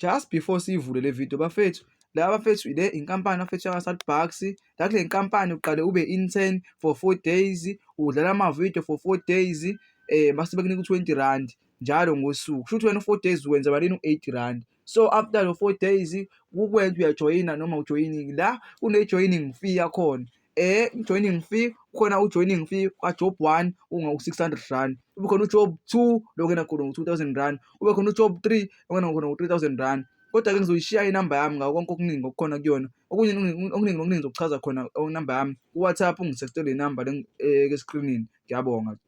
Just before siyivule le video bafethu la bafethu ile inkampani bafethu yakaSat Bucks la kule nkampani uqale ube intern for 4 days udlala ama video for 4 days eh base bekunika 20 rand njalo ngosuku kusho ukuthi wena 4 days wenza malini u8 rand so after lo 4 days ukwenza uyajoyina noma ujoyiningi la kune joining fee yakhona eh joining fee khona ujoining fee kwajob 1 unga u600 rand ube khona ujob 2 lokena khona u2000 rand ube khona ujob 3 lokena khona u3000 rand kodwa ke ngizoyishiya inamba yami ngako konke okuningi okukhona kuyona okunye okuningi okuningi ngizokuchaza khona inamba yami kuwhatsapp ungisextele inamba le eh, escreenini ngiyabonga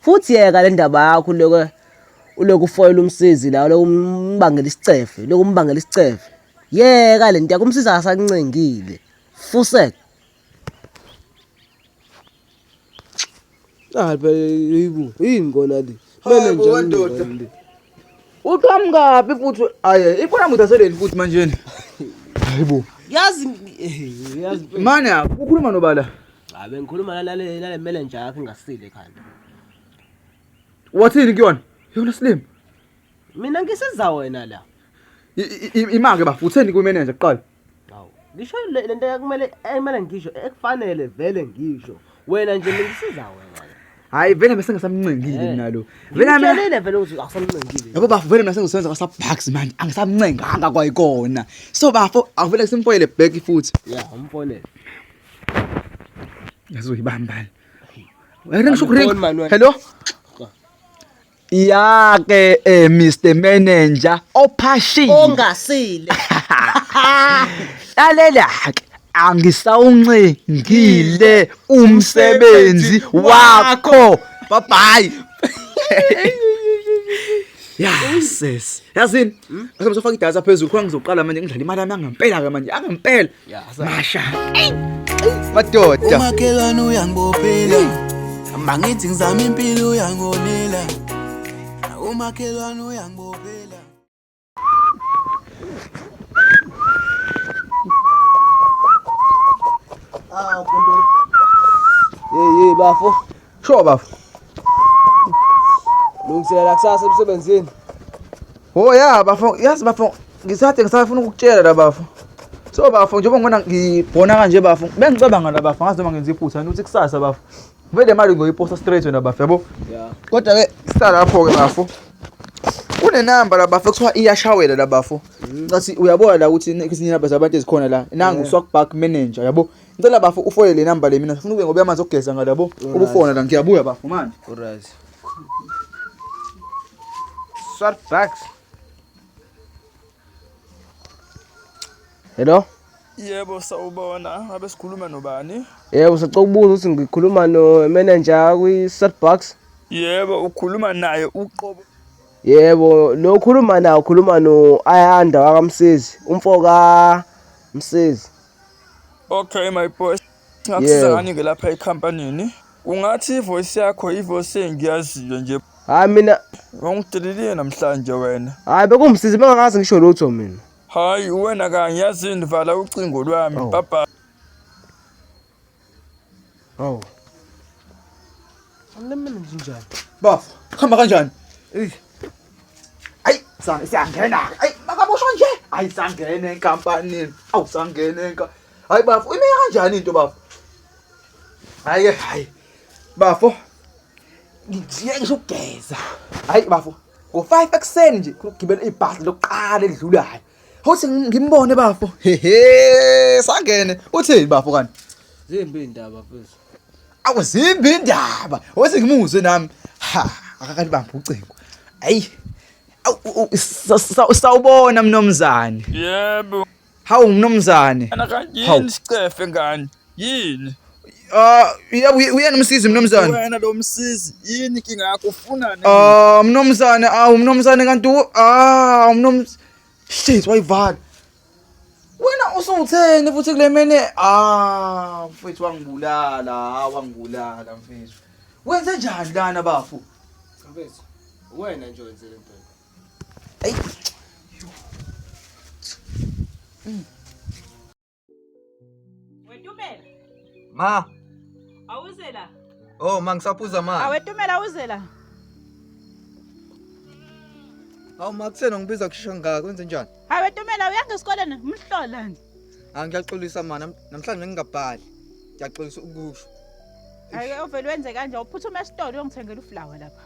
futhi yeka le ndaba yakho uloke uloku ufoyela umsizi la uloku umbangela isicefe uloku umbangela isicefe yeka le nto yakho umsizi akasancengile fusek hayi phela yini kona le Hayi bo, wendoda. Uqhamukaphi futhi aye ibona muthi aseleni futhi manje ni. Hayibo. Yazi yazi manje ukhuluma nobala. Cha bengikhuluma nale nale manager yakhe ngasile ekhanda. Wathini kuyona? Yona slim. Mina ngisiza wena la. Imake bafutheni ku manager kuqala. Awu, ngisho le lento yakumele ayimele ngisho ekufanele vele ngisho. Wena nje ngisiza wena. Hayi vele mina sengasamncengile Eh. mina lo. Vele mina Ngitshelile vele ukuthi akusamncengile. yabo bafo vele mina sengisebenza kwasa bucks manje angisamncenganga kwayikona. So bafo awuvele simfoyele back futhi. Yeah, umfonele. Yazoyibambana. Wena ngisho Angifoni, ukuringa. Manuel. Hello. Ya ke eh, Mr Manager ophashile ongasile. Lalela ke angisawuncengile umsebenzi wakho. Bye bye. Ya sis. Yazini, ngisafaka idatha phezulu khona ngizoqala manje ngidlala imali yami yangempela ke manje, yangempela. masha madoda umakhelwane uyangibophela mangithi ngizama impilo uyangonela umakhelwane uyangibophela ah kunto hey hey bafo Sure bafo. Lungiselela kusasa emsebenzini. Oh ya bafo, yazi bafo ngisathe ngisafuna ukukutshela la bafo. So bafo njengoba ngibona ngibhona kanje bafo, bengicabanga la bafo ngazi noma ngenza iphutha ukuthi kusasa bafo. Vele imali ngoyiposta straight wena bafo yabo. Yeah. Kodwa ke salapho ke bafo. Kunenamba la bafo kuthiwa iyashawela la bafo. Mm. Ngathi uyabona la ukuthi izinamba zabantu ezikhona la. Nangu yeah. Swagback manager yabo. Ngicela bafo ufole le number le mina ngifuna ube ngoba amanzi okugeza ngala bo. Ubufona la ngiyabuya bafo manje. Alright. Swart bags. Hello? Yebo sawubona, ngabe sikhuluma nobani? Yebo sicela ukubuza ukuthi ngikhuluma no manager kwi Starbucks. Yebo ukhuluma naye uqobo. Yebo lo ukhuluma naye ukhuluma no Ayanda wakamsezi, umfoka Msezi. Okay my boss. Ngakusiza Yeah. ngani ke lapha ekhampanini? Ungathi ivoice yakho ivoice engiyaziyo nje. Hayi mina, Ungidelile namhlanje wena. hayi bekungimsize bengakazi ngisho lutho mina. Hayi wena kanye yazini vala ucingo lwami. Oh. Bye bye. Hawu. Angilemele nje njani? Bafo, hamba kanjani? Ey. Ayi, sana siyangena. Ayi, makaboshwa nje. Ayi sangene enkampanini. Awu sangene enka. Hayi bafo, ime kanjani into bafo? Hayi ke, hayi. Bafo. Ngijiye ngisho ukugeza. Hayi bafo. Ngo-5 ekuseni nje kugibela ibhasi lokuqala elidlulayo. Hothi ngimbone bafo. Hehe, sangene. Uthini bafo kanti? Zimbi indaba mfethu. Awuzimbi indaba. Hothi ngimuzwe nami. Ha, akakali bamba ucingo. Ayi. Sawubona mnomzane. Yebo. Hawu mnomzane. Ana kanjini sicefe ngani? yini Ah, uya- uya- uyena umsizi mnumzane wena lo msizi yini inkinga yakho ufunani Ah, mnumzane awu mnumzane kanti u- ah mnumz shit wayivala wena usutheni futhi kule mene ah mfethu wangibulala ah, wangibulala mfethu wenze njani lana bafo Mfethu, uwena nje wenze le nto. Ayi. Wetumela. Ma. Awuze la. Oh, ma ngisaphuza ma. Awetumela awuze la. Awu ma kusena ngibiza kushesha ngaka kwenze njani? Awetumela uyanga esikoleni umhlola nje. Ah ngiyaxolisa ma nam- namhlanje ngingabhali. Ngiyaxolisa ukusho. Hayi ovele wenze kanje uphuthume esitolo uyongithengela uflower lapha.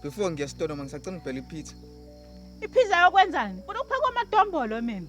Before ngiya esitolo ma ngisacela ubhela ipizza. Iphiza yokwenzani? Funa ukuphaka amadombolo mina.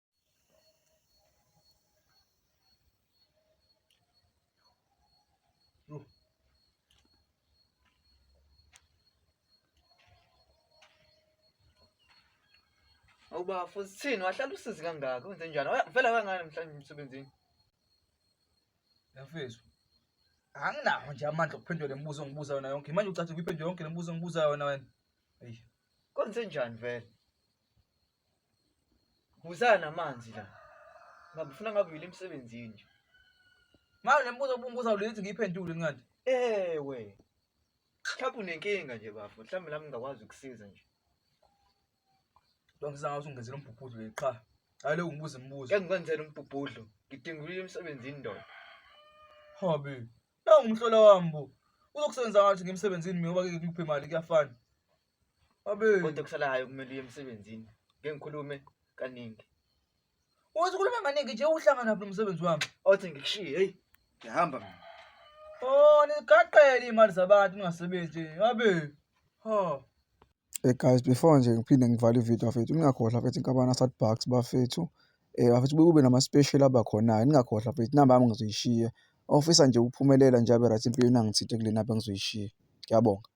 Awuba futhi thini wahlala usizi kangaka wenze njani? Oya, Vele kangani mhlawumbe emsebenzini? Yafethu. Anginawo nje amandla okuphendula le mibuzo ongibuza yona yonke. Manje ucathi ukuyiphendula yonke le mibuzo ongibuza yona wena. Eyi. Kwenze njani vele? Ngizana namanzi la. Ngabufuna ngabuyile emsebenzini nje. Ngayo lembuzo obungibuza ulithi ngiyiphendule incwadi. Ewe. Mhlawumbe unenkinga nje bafo. Mhlawumbe nami ngingakwazi ukusiza nje. Lo ngizanga ukuthi ungenzele umbhubhudlo le qha. Hayi lo ungibuza imibuzo. Ngeke ngikwenzele umbhubhudlo. Ngidinga ukuyila emsebenzini ndoda. Hobby. Nawu umhlola wami bo. Uzokusebenza ngathi ngimsebenzini mina ngoba ngeke ngikuphe imali kuyafana. kodwa kusalayo kumele uye emsebenzini ngeke ngikhulume kaningi uthi ukhulume kaningi nje uhlangana phi nomsebenzi wami othi ngikushiye heyi ngihamba mina oh nigaqele iy'mali zabantu ningasebenzi abe ha Hey guys before nje ngiphinde ngivale ividiyo bafethu ningakhohlwa bafethu inkampani yaSat Bucks bafethu um bafethu kube nama-special aba khona-ke ningakhohlwa bafethu inamba yami ngizoyishiya ofisa nje ukuphumelela nje abe right empilweni angithinte kule namba engizoyishiya ngiyabonga